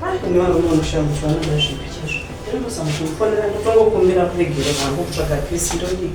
Haa kune varume vanoshamu kuti vanoda zvipi chezvo. Ndinotosa mukufonera ndotongokumbira kuregere vangu kutsvaga pisi ndodii.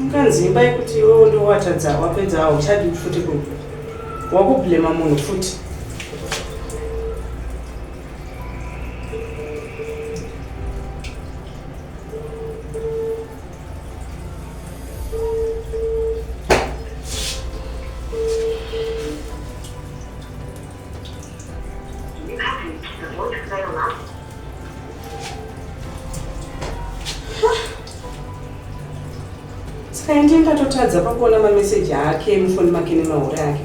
unganzi imba yekuti iwewo ndowatadza wapedza hauchadi futi kunge wakublema munhu futi kaindi ndatotadza pakuona mameseji ake mufoni make nemahure ake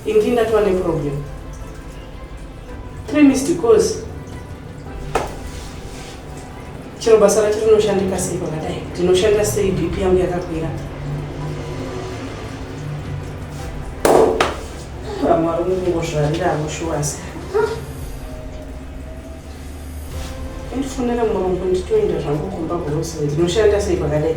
indi ndatova neproblem three missed calls chero basa racho rinoshandika sei pakadai ndinoshanda sei bp yangu yakakwira vamwe vari kungozvarira avo shuwasi ndifonera murungu nditoenda zvangu kumba kurosi ndinoshanda sei pakadai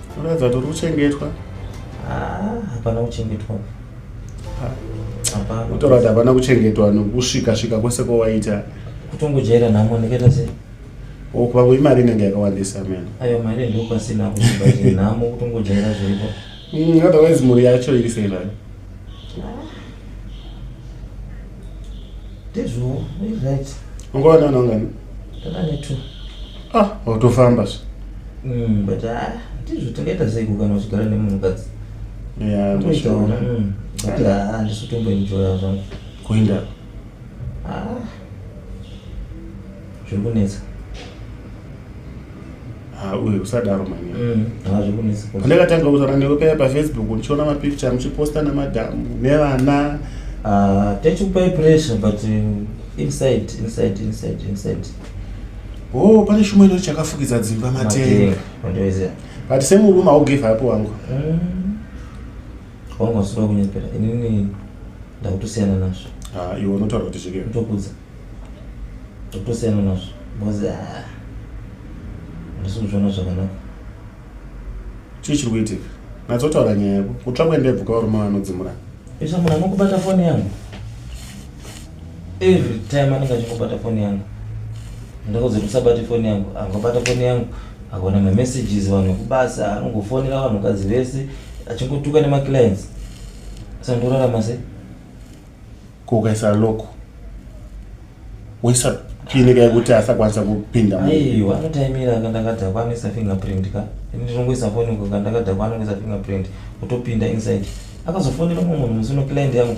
Unoratidza kuti uri kuchengetwa. Ah, hapana kuchengetwa. Hapana. Unotaura kuti hapana kuchengetwa nokusvika svika kwese kwawaita. Kutongojaira nhamo ndikaita sei? Oh, kwangu imari inenge yakawandisa mena. Ayo mari ndopasina kuziva nhamo kutongojaira zviripo. Mm, otherwise mhuri yacho iri sei nayo? ndizvo right ungowana vana ungani takanetu ah watofamba zve mm, but ah, ndizvo tingaita sei kukana uchigara nemunhukadzi toitaona mm, but ah, handisotomboenjoya zvangu kuenda Ah. Zviri kunetsa. Ah, uye usadaro manya. Mm. Ah, zviri kunetsa. Pandakatanga kutaura newe paya paFacebook ndichiona mapicture muchiposta namadhamu nevana. Ah, tachikupai pressure but um, inside inside inside inside. Oh, pane shumwe ino chakafukidza dzimba matenga. Matenga. But same room I'll give up wangu. Mm. wangu wasura kunyepera inini ndakutosiyana nazvo ah, iwe unotaura kuti zvike ndokudza ndakutosiyana nazvo bcoz ah, ndisi kuzviona zvakanaka chii chiri kuitika natsotaura nyaya yako kutsva kuendebvuka varume vanodzimura isa munhu anokubata foni yangu every time anenge achingobata foni yangu ndakudzi kuti usabate foni yangu angobata foni yangu akaona mamessages vanhu vekubasa anongofonera vanhukadzi vese achingotuka nemaclients sandorarama se ko ukaisa loko woisa pini ka yekuti asakwanisa kupinda aiwa anotaimira ka ndakadhakwa anoisa fingerprint ka ini ndinongoisa foni ko ka ndakadhakwa anongoisa fingerprint otopinda inside akazofonera mumwe munhu musi uno client yangu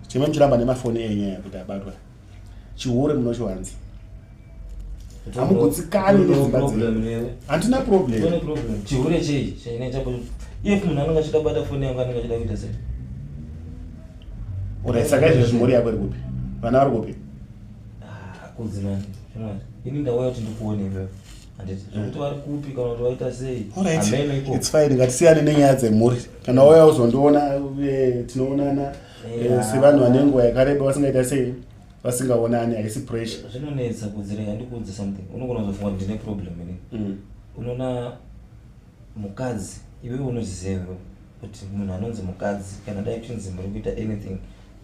chimwe muchiramba nemafoni enyaya kuti abatwa chihure munochiwanza hamugutsikani nedzimba dzenyu hatina problem chihure chei chainaita if munhu anenge achida kubata foni yangu anenge achida kuita sei orit saka izvezvi mhuri yako iri kupi vana vari kupi ah, kudzimani ini ndauya kuti ndikuone ipapo ngatisiyane nenyaya dzemhuri kana wauya uzondiona eh, tinoonana eh, sevanhu vane nguva yakareba vasingaita sei vasingaonani haisi pressure zvinonetsa kudzirega ndikuudze something unogona kuzofunga kuti ndine problem ini mm. unoona mukadzi iwewe unoziziva kuti munhu anonzi mukadzi kana dai tinzi muri kuita anything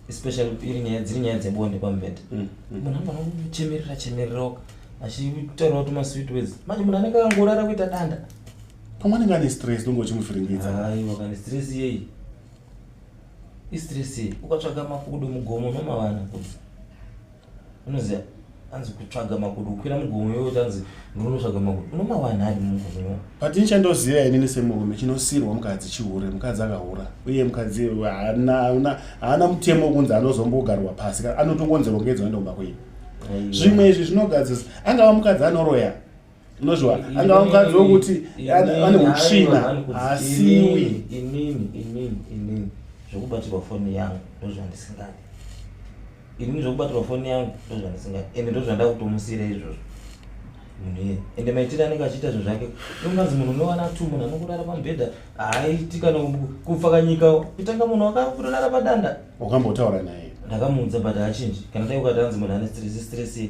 especially iri nyaya dziri nyaya dzebonde pamubhedha mm, mm. munhu anogona kuchemerera chemereraoka achitaurawo kuti masweet words manje munhu anenge akangorara kuita danda pamwe anenge ane stress nonge uchimufiringidza aiwa kane stress iyeyi history sei ukatsvaga makudo mugomo unomavana kuti unoziva anzi kutsvaga makudo kukwira mugomo iwe utanzi ndinotsvaga makudo unomavana adi mugomo but ini chandoziva inini semurume chinosirwa mukadzi chihure mukadzi akahura uye mukadzi haana mutemo wekunzi anozombogarwa pasi anotongonzi rongedzwa ndomba kwenyu zvimwe izvi zvinogadzisa angava mukadzi anoroya unozviwana angava mukadzi wokuti ane utsvina haasiwi inini inini inini zvokubatirwa foni yangu ndozvandisingadi inini zvokubatirwa foni yangu ndozvandisingadi ende ndozvandakutomusira izvozvo munhu iye ende maitire anenge achiita zvinhu zvake unganzi munhu unowana tu munhu anokurara pamubhedha haaiti kana kupfa kanyika kutanga munhu wakakurara padanda wakambotaura naye ndakamuudza but haachinji kana dai ukati anzi munhu ane stress stress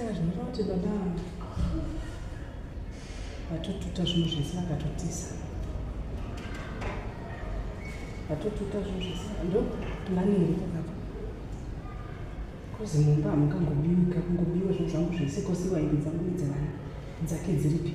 saka zvinoita kuti baba vatotuta zvinhu zvese vakatotisa vatotuta zvinhu zvese ndo plani iri pakapa kozi mumba hamungangobiwi ka kungobiwa zvinhu zvangu zvese kosi wainge dzangu idzevana dzake dziripi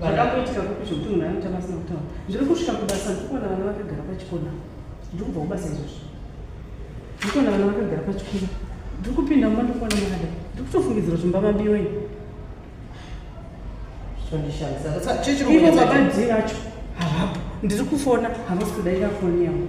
zvakakoitika kupi zvokuti munhu anoita masina kutaura ndiri kusvika kubasa ndikuona vana vakagara pachikona ndiri kubva kubasa izvozvo ndikuona vana vakagara pachikona ndiri kupinda mumba ndikuona mwanada ndiri kutofungidzira zvimba mabiwa ini ivo baba dhi vacho havapo ndiri kufona havasi kudaira foni yangu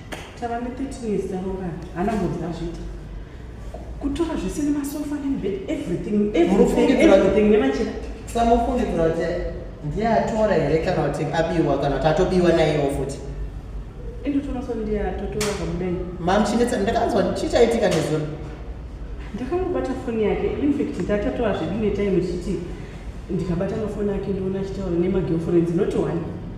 tava ne13 years taroorana hana mbonzi azviita kutora zvese nemasofa nemibed everything everything nemachira samufungidzira kuti ndiye atora here kana kuti abiwa kana kuti atobiwa naiyewo futi mam chinetsa ndakanzwa chichaitika nezuro ndakamubata foni yake infact ndatatoa zvedu netime chiti ndikabata mafoni ake ndiona achitaura nemagirlfriends not one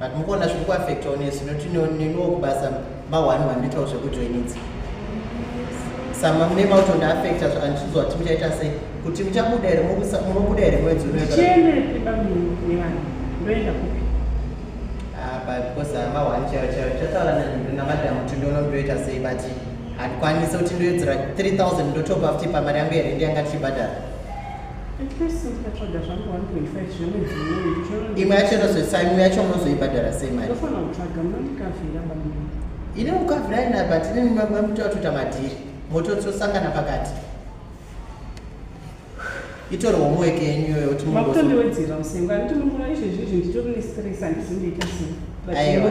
but mukuona zviri kuaffecta onesu nokuti neniwo kubasa mahwani vanoitawo zvekujoinidza sama mune mautonda affecta andichiudzwa kuti muchaita sei kuti muchabuda here munobuda here mwedzi unoeabeause ah, mahwani chaiyo chaiyo chataura namadam kuti ndono ndoita sei but handikwanise kuti ndoedzera 3000 ndotobva futi pamari yangu here ndiyanga tichibhadhara imwe yacho inozoisa imwe yacho munozoibhadhara sei mari ine ukavhira ina but ine mutatoita madhiri mototosangana pakati itori homework yenyu iyoyo kuti makutondiwedzera musengo anditi munguva izvezvi izvi nditori nestress andizindoita sei aiwa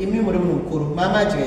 imi muri munhu mukuru mamadya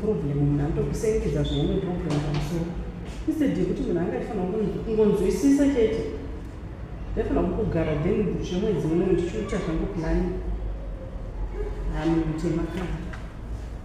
problem munhu anotokusengedza zvaine problem pamusoro instead yekuti munhu anga aifanira kungonzwisisa chete ndaifanira kukugara then bushe mwedzi uno ndichiuta zvangu plani hanhu mutema kana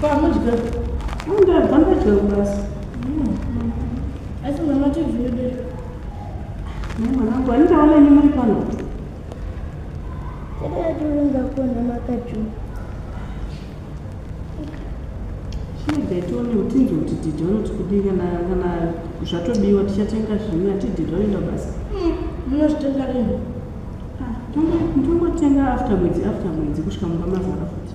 Pamudya. Unda bamba chero basi. Asi mama tizvide. Mwana wangu anitaona nyuma pano. Kada turinga kuona makaju. Shidetoni utinzi kuti didi vanoti kudii kana kana zvatobiwa tichatenga zvimwe atididi vanoenda basa. Hmm, Munozvitenga rini? Ah, ndongotenga after mwedzi after mwedzi kusvika mumba mazara futi.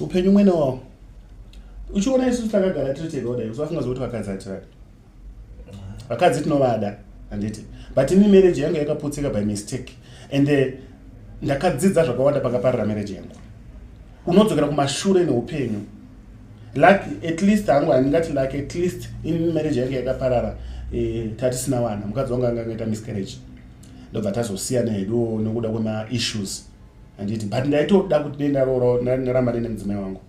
upenyu umwe newawo uchiona isu takagara tiri tega kudai usafunga zvokuti vakadzi hatiradi vakadzi tinovada handiti but ini marriage yangu yakaputsika by mistake and eh, ndakadzidza zvakawanda pakaparira marriage yangu unodzokera kumashure neupenyu luck at least hangu handingati luck at least in marriage yange yakaparara eh, tatisina wana mukadzi wangu anga angaita miscarriage ndobva tazosiyana hedu nokuda kwemaissues handiti but ndaitoda kuti dei ndaroora ndaramba nene mudzimai wangu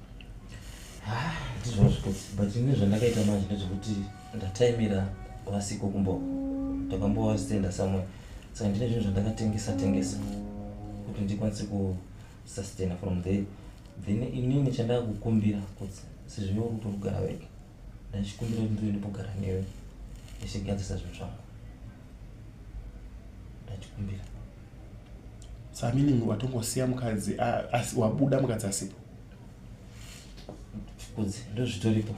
ah, ndizvozvo but ine zvandakaita manje ndezvekuti ndataimira vasiko kumbo ndakambovasitenda samwe saka ndine zvinhu zvandakatengesa tengesa kuti ndikwanise ku sustainer from there then inini chandava kukumbira kuti sezvive uri kutogara wega ndachikumbira kuti ndive ndipogara newe ndichigadzisa zvinhu zvangu ndachikumbira samining watongosiya mukadzi wabuda mukadzi asipo kudzi ndozvitoripo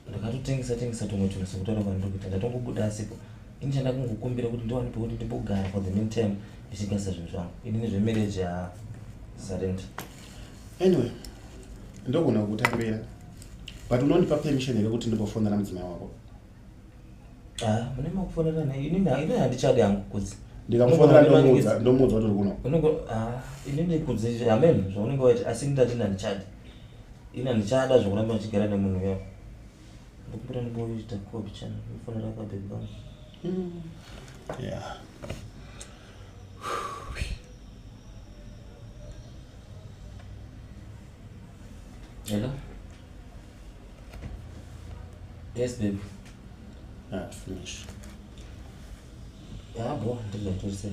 ndakatotengesa tengesa tumwe tunhu sekutaura kwandiri kuita ndatongobuda asipo ini chandakungokumbira kuti ndiwane pekuti ndimbogara for the mean time ndichigasa zvinhu zvangu ini nezvemarriage ya zarenda anyway ndogona kukutambira but unondipa permission here kuti ndimbofonera mudzimai wako ah, mune makufonera naye ini handichadi hangu kudzi ndikamufonera ndomuudza ndomuudza kuti uri kuno ah, ini ndikudzi amen zvaunenge waiti asi ndati ndandichadi ina ndichada zvokuramba ndichigara nemunhu uya ndikumbira ndimboita kopi chana ndifonera kabhebhi vangu mm. yeah. hello yes baby ah, finish yabo ndizvatorisei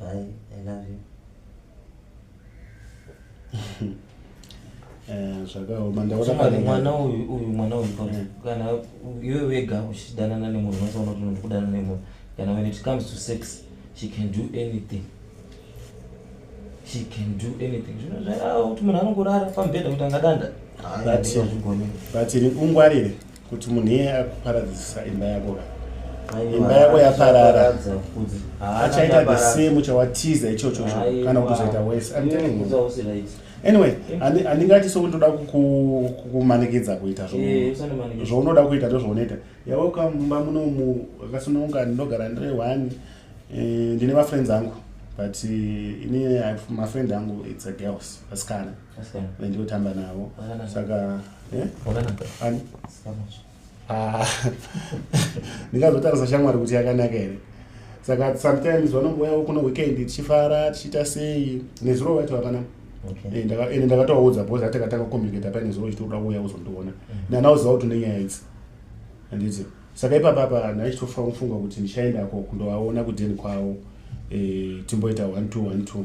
Bye, I love you. Eh, zvakaoma Chimwana, mwana uyu uyu mwana uyu pa- Mm. kana iwe wega uchidanana nemunhu unosaona kuti unoda kudanana nemunhu kana when it comes to sex she can do anything she can do anything zvino zvairava kuti munhu anongorara pamubhedha kuti angadanda Hayi, That's- hazvigoni. but ungwarire kuti munhu iye akuparadzisa imba yako ka imba yako yaparara achaita the same chawatiza ichocho cho kana kuti uzoita wese I'm telling you anyway handingati so kuti ndoda kukumanikidza kuita eh, zvounoda kuita ndozvounoita yaweka mumba munomu akasununga ndinogara ndiri one eh, ndine mafriends angu but eh, ini mafriend angu its a girls vasikana ndinotamba navo saka ah. ndingazotarisa shamwari kuti yakanaka here saka sometimes vanongouyawo kuno weekend tichifara tichiita sei nezuro vacho hapana eh, ende ndakatovaudza bhozi atakatanga kucommunicata paine zuro chitoda kuuya kuzondiona mm. ndandaoziva kuti nenyaya idzi handiti saka ipapa apa ndaichitofa kufunga kuti ndichaendako kundovaona kudeni kwavo eh, timboita one two one two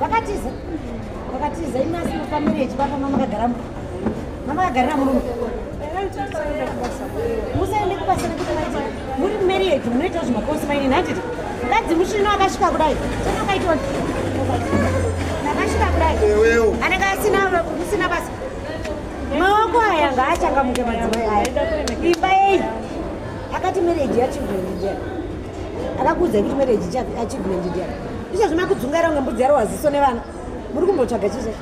vakatiza vakatiza imi asi mufamiri yechibaba mamakagara mamakagara murume musaende kubasa nekuti muri mumarriage munoita zvimakosi maine nhanditi mukadzi musvino akasvika kudai chakakaitwa nakasvika kudai anenge asina usina basa maoko aya ngaachangamuke madzimai aya imba yei akati marriage yachildren ndian akakuudzai kuti marriage achildren ndian izvezvi makudzungaira kunge mbudzi yaro waziso nevana muri kumbotsvaga chii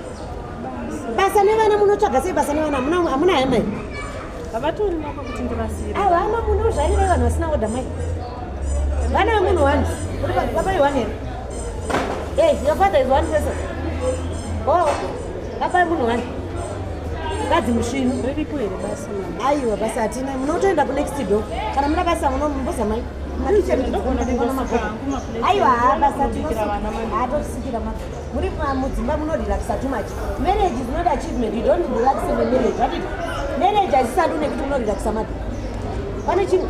basa nevana munotsvaga sei basa nevana hamuna hemai havatori nako kuti ndivasiire ava ama muno zvaireva vanhu vasina oda mai vana vemunhu wani baba iwani here hey your father is one person oh baba vemunhu wani kadzi musvinu riripo here basa aiwa basa hatina munotoenda kunext do kana muna basa munombozamai aiwa basa tinosikira muri mudzimba munorelaxa too much marriage is not achievement you don't relax in the marriage right marriage haisisandi une kuti unorelaxa mati pane chinhu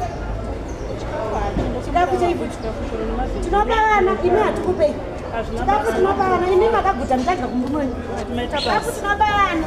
chikafu chaifuti tinopa vana imi hatikupei chikafu tinopa vana imi makaguta mutadya kumurume wenyu chikafu tinopa vana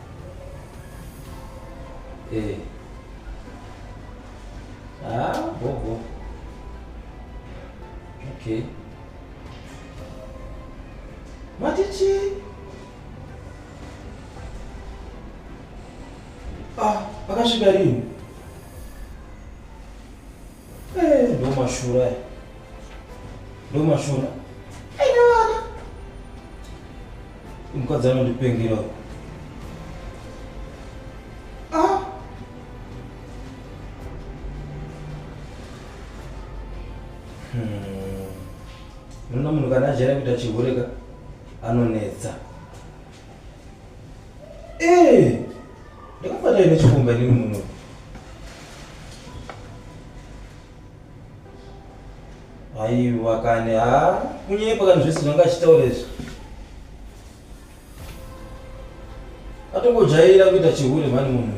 Eh. Ah, bobo. Okay. Matichi. Ah, akasvika rini? Eh, ndo mashura aya. Ndo mashura. Aina vana. Mukadzi anondipengera. uyu. Ah. Hmm. Unoona munhu kana ajera kuita chihure ka anonetsa. Eh, ndakafata ine chikomba inini muno. Aiwa kani, ha, kunyepa kani zvese zvanga achitaura izvi. Atongojaira kuita chihure mhani munhu.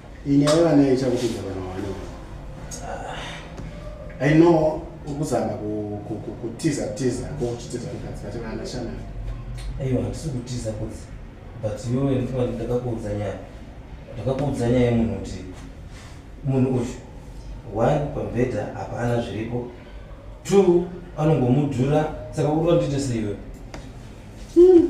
ini aiva naye chakupinza vana wani i know ukuzama kutiza tiza kokuchitiza mukadzi vati vana shana aiwa handisi kutiza kudzi but iwewe ndifaa ndakakuudza nyaya ndakakuudza nyaya yemunhu kuti munhu uyu one pambhedha hapana zviripo two anongomudhura saka uri vandiite seiwe hmm.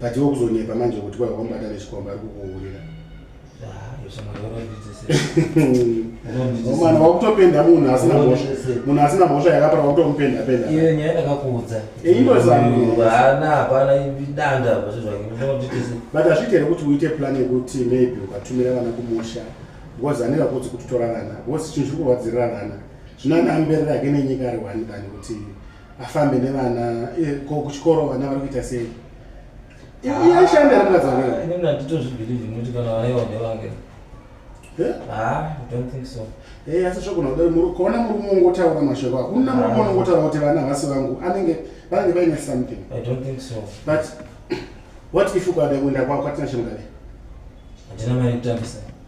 but iwe kuzonyepa manje kuti kwai wakamubata nechikomba ari kukuhurira mwana wakutopenda munhu asina mhosva munhu asina mhosva yakapara wakutomupenda penda iyo nyaya ndakakuudza indozaana hapana idanda but hazviite here kuti uite plan yekuti maybe ukatumira vana kumusha because anenge akudzi kuti torarana because chinhu chiri kurwadzirira vana zvino anaamberera ake nenyika ari one than kuti afambe nevana eh, ko kuchikoro vana vari kuita sei iyashanda ah, rikazanini handitozvibhilivhi nekuti kana vana ivo ndevange eh? ah, eh, asi zvogona kudai kaona murume ungotaura mashoko hakuna murume ah. unongotaura kuti vana havasi vangu anenge vanenge vaine something but what if ukada kuenda kwako atina chemugare handina mari kutambisa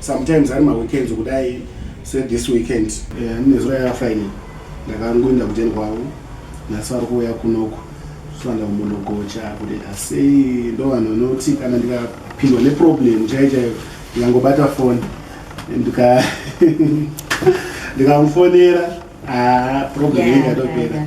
sometimes ari maweekends kudai se this weekend eh, ane zuva yava fine ndakangoenda kujeni kwavo nhasi vari kuuya kunoko soanda kumbonogocha kuti asei ndo vanhu vanoti kana ndikapindwa neproblem chai chaiyo ndikangobata foni ndika ndikamufonera ah, problem ingatopera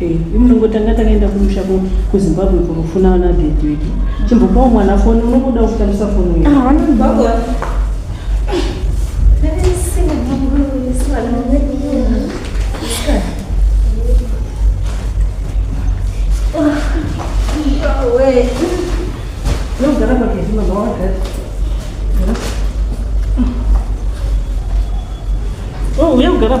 Eh, imnongo tanga takaenda kumusha kuzimbabwe kunofuna vana dhedheki chimbopawo mwana foni unokuda kutambisa foni nogara pagezi mama wagara oh, uya kugara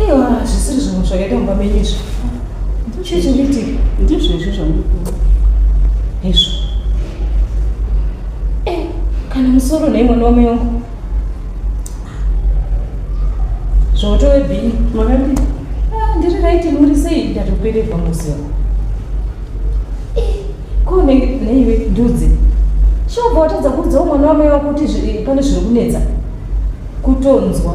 Aiwa hazvisiri zvinhu zvakaita mumba menyu izvi. Chii chiri kuitika? Ndizvo izvo zvamuri kuona. Izvo. Eh, kana musoro nei mwana wamai wangu. Zvotowe bhini. Makadii? Ah, ndiri right muri sei ndatopererwa muziva. Eh, ko ne- neiwe ndudzi. Shobva watadza kuudzawo mwana wamai wako kuti zvi- pane zviri kunetsa. Kutonzwa.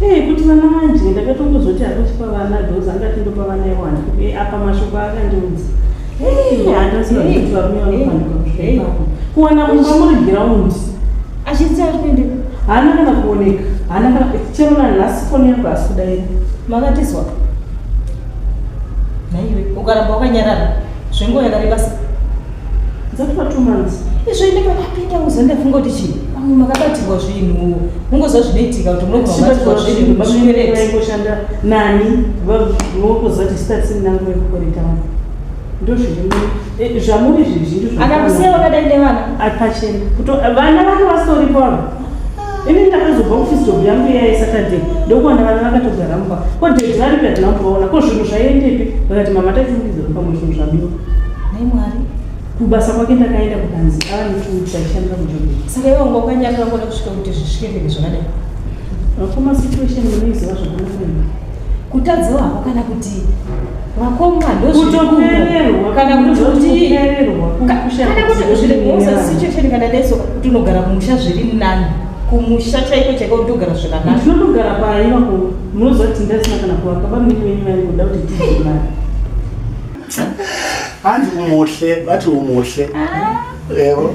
Hey, kuti vana manje ndakatongozoti hakuti pavana dhozi angati ndopa vana iwani hey, eh, apa mashoko akandiudza eh, handaziva kuti varume vanofanirwa kuwana mumba muri giraundi achiti ari kuende haana kana kuoneka haana kana chero nanhasi foni yangu asi kudaira makatizwa naiwe ukaramba wakanyarara zvenguva yakareba sei dzatova two months izvo ine pakapinda uza ndafunga kuti chii pamwe makabatirwa zvinhu mungoziva zvinoitika kuti munokuabatirwa zvinhu makueretaingoshanda nani vanokuziva kuti stats nangu yekukoreta vanhu ndozvirimuzvamuri eh, zvizhinji akakusiya vakadai nevana apachena kuti vana vake vasitoripo avo ini ndakazobva office job yangu iya yesaturday ndokuwana vana vakatogara mumba ko dad vari pati nambovaona ko zvinhu zvaiendepi vakati mama tatiungiza pamwe zvinhu zvabiwa nai mwari kubasa kwake ndakaenda kukanzi ava nekuti aishandira mujob saka iwe unga ukanyarira kuona kusvika kuti zvisvike mberi zvakadai vakoma situation vanoiziva zvakanaka kutadzawo hako kana kuti vakoma ndozvikuokana kutiusasichecheni kana deso kuti unogara kumusha zviri nani kumusha chaiko chaiko kuti ugara zvakanaknogara paivako munoziva kuti ndasina kana kuvaka bamiri venyu vari kuda kuti tiimari hanzi umuhle vati umuhle ah. evo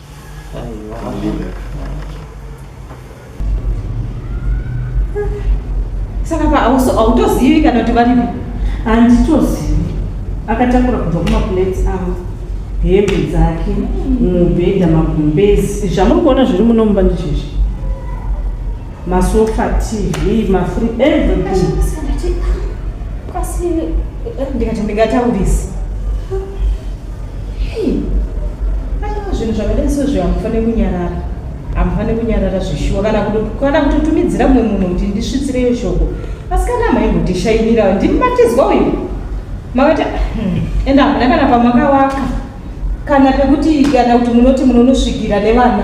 saka paautozivi kana kuti varipi handitozivi akatakura kubva kumaplates avo hembe dzake mubhedha magumbezi zvamuri kuona zviri muno mumba ndichizvi masofa tv mafri everything ndikati ndingataurisi Hey, aiwa zvinhu zvakadai sezvo hamufanire kunyarara hamufanire kunyarara zvishuwa kana kana kutotumidzira mumwe munhu kuti ndisvitsireyo shoko asi kana maimbotishayinirawo ndimi matizwa uyu makati hmm, ende hamuna kana pamakawaka kana pekuti kana kuti munoti munonosvikira nevana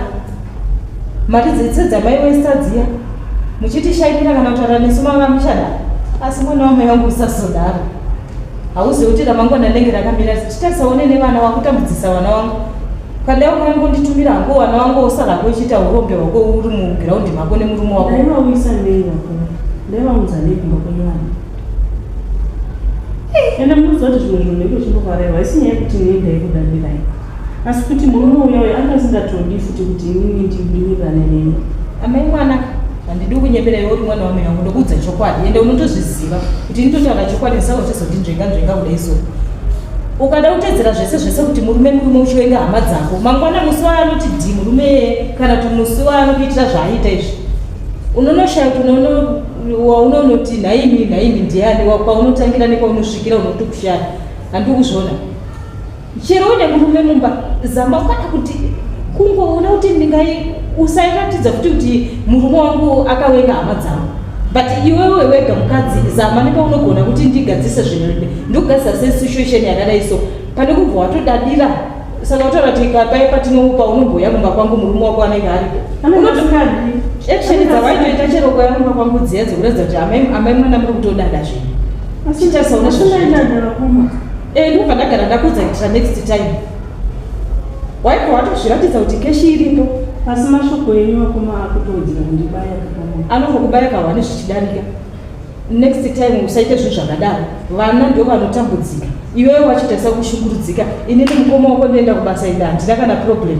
mari dzetsedzamai westadziya muchitishayinira kana kutaura nesu mava muchadaro asi mwana wamai wangu usazodaro hauzivi kuti ramangwana ndenge rakamira zvichitarisawo nene vana wakutambudzisa vana wangu kandai ukani kunditumira hangu vana wangu osara ko uchiita urombe hwako uri mugiraundi mako nemurume wako ndaivauyisa nei vako ndaivaunza nei kumba kwenyu vana ende munoziva kuti zvimwe zvinhu ndenge uchimbovarerwa isi nyaya yekuti nei ndaikudandirai asi kuti murume uya uyo anga asingatodi futi kuti inini ndibinirane neni amai mwanaka handidi kunyepera iwe uri mwana wamai vangu ndokuudza chokwadi ende unotozviziva kuti ini totaura chokwadi ndisawa uchizondinzvenga nzvenga kuda iso ukada kutedzera zvese zvese kuti murume murume uchivenga hama dzako mangwana musi wayo anoti dhi murume yeye kana kuti musi wayo anokuitira zvaaita izvi unonoshaya kuti waunonoti nhaimi nhaimi ndiani kwaunotangira nekwaunosvikira unotokushaya handikuzviona chero une murume mumba zama ukada kuti kungoona kuti ndingai usairatidza kuti kuti murume wangu akawenga hama dzangu but iwewe wega mukadzi zama nepaunogona kuti ndigadzise zvinhu ndokugadzisa sesituation yakadai so pane kubva watodadira saka wataura kuti kapai patinopa unomboya kumba kwangu murume wako anenge aripo action dzawaitoita chero kwaya kumba kwangu dziya dzekuratidza kuti amai mwana muri kutodada zvinhu chitasaona zvinoita Eh, ndobva ndagara ndakudza kuitira next time waiko watozviratidza kuti keshi iripo asi mashoko enyu akoma akutowedzera kundibaya kakama anongokubaya kahwani zvichidarika next time usaite zvinhu zvakadaro vana ndo vanotambudzika iwewe wachitarisa kushukurudzika inini mukoma wako ndienda kubasa enda handina kana problem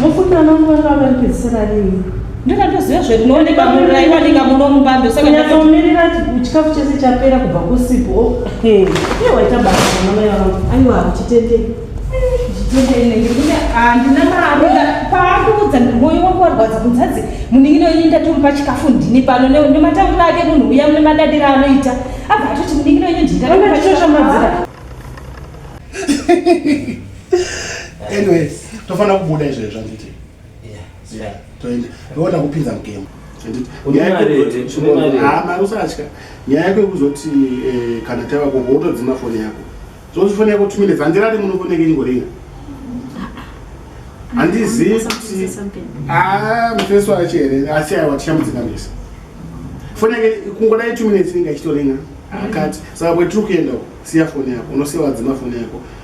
Mukunda vangu vanga varipedzisira rini? Ndakatoziva zve kunooneka munhu aiwanika muno mubando saka ndakamirira chikafu chese chapera kubva kusipo. Hey, waita basa mama mai vangu. Aiwa kuchitendei. handina mari paandiudza moyo wangu warwadza kunzi hanzi munin'ina wenyu ndatori pachikafu ndini pano nematambura ake munhu uya mune madadiro anoita abva atoti munin'ina wenyu ndindaachoshamadzira anyways tofanira kubuda izvo izvo anditi yeah toenda toona kupinza mugemu mari usatya nyaya yako yekuzoti eh, kana tava koko wotodzima foni yako zvozi foni yako two minutes handirari muno foni yake ingoringa handizivi kuti ah, mufesi wacho here asi aiwa tichamudzingamisa foni yake kungodai two minutes inenge achitoringa akati saka kwetiri kuenda siya foni yako unosiya wadzima foni yako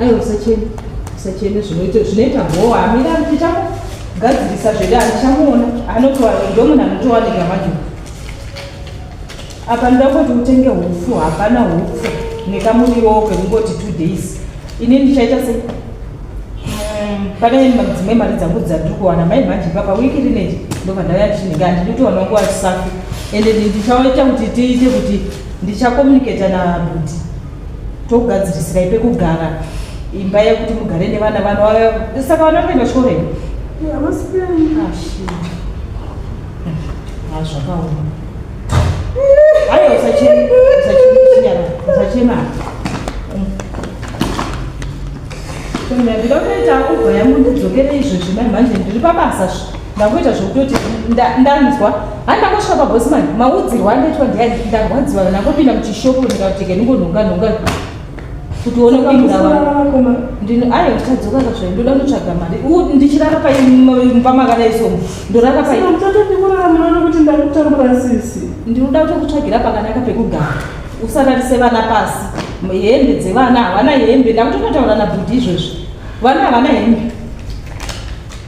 aiwa usachene usachene zvinoita zvinoita bhowa amira tichagadzirisa zvede andichamuona anotoa ndomuna anotowanika majuu apa ndoda kuti utenge hupfu hapana hupfu nekamuriwo kekungoti two days ini ndichaita se mm, pane dzimwe mari dzangu dzandiri kuwana mai manje papa wiki rineji ndobva ndauya ndichinenge andinitoona nguva chisafi ende ndichaita kuti tiite kuti ndichakomuniketa nabudi togadzirisirai pekugara imba yekuti mugare nevana vana vaya saka vana vanoenda chikoro here hazvakaoma hayo usachema ndinotoita kubva yamundidzokere izvozvi mai manje ndiri pabasa ndangoita zvekutoti ndanzwa hai ndangosvika pabosman maudzirwa andoitwa ndiani ndarwadziwa ndangopinda muchishopu ndikatike ndingonhonga nhonga kuti uone kupinduraaiyo ndichadzoka kazvai ndoda kutsvaga mari ndichirara paimba makadaisomo ndorara paikuti ndakutambura sisi ndinoda kutokutsvagira pakanaka pekugara usararise vana pasi hembe dzevana havana hembe ndakutototaura nabhudhi izvozvi vana havana hembe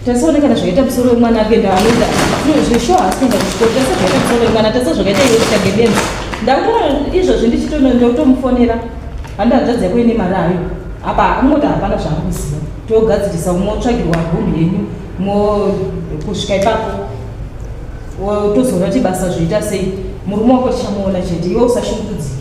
tasaone kana zvakaita musoro wemwana apenda anoita zveshow haasi kuenda kuchikoro tasa zvakaita musoro wemwana tasa zvakaita iwe kutsvage benzi ndakuona izvozvi ndichitonotomufonera handi hanzvadzi yako ine mari ayo apa angoti hapana zvaanguziva togadzirisa motsvagirwa room yenyu mo kusvika ipapo tozoona kuti basa zvoita sei murume wako tichamuona chete iwe usashungurudzike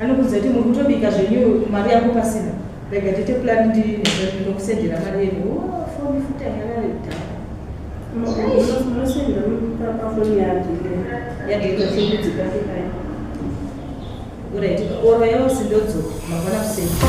Anokudza kuti muri kutobika zvenyu mari yako pasina. Rega tete plan ndi ndokusendera mari yenyu. Oh, phone futa yarari da. Munosendera pa phone yake. Yake inochikudzika kai. Ora iti ora yose ndodzo mabona kusendera.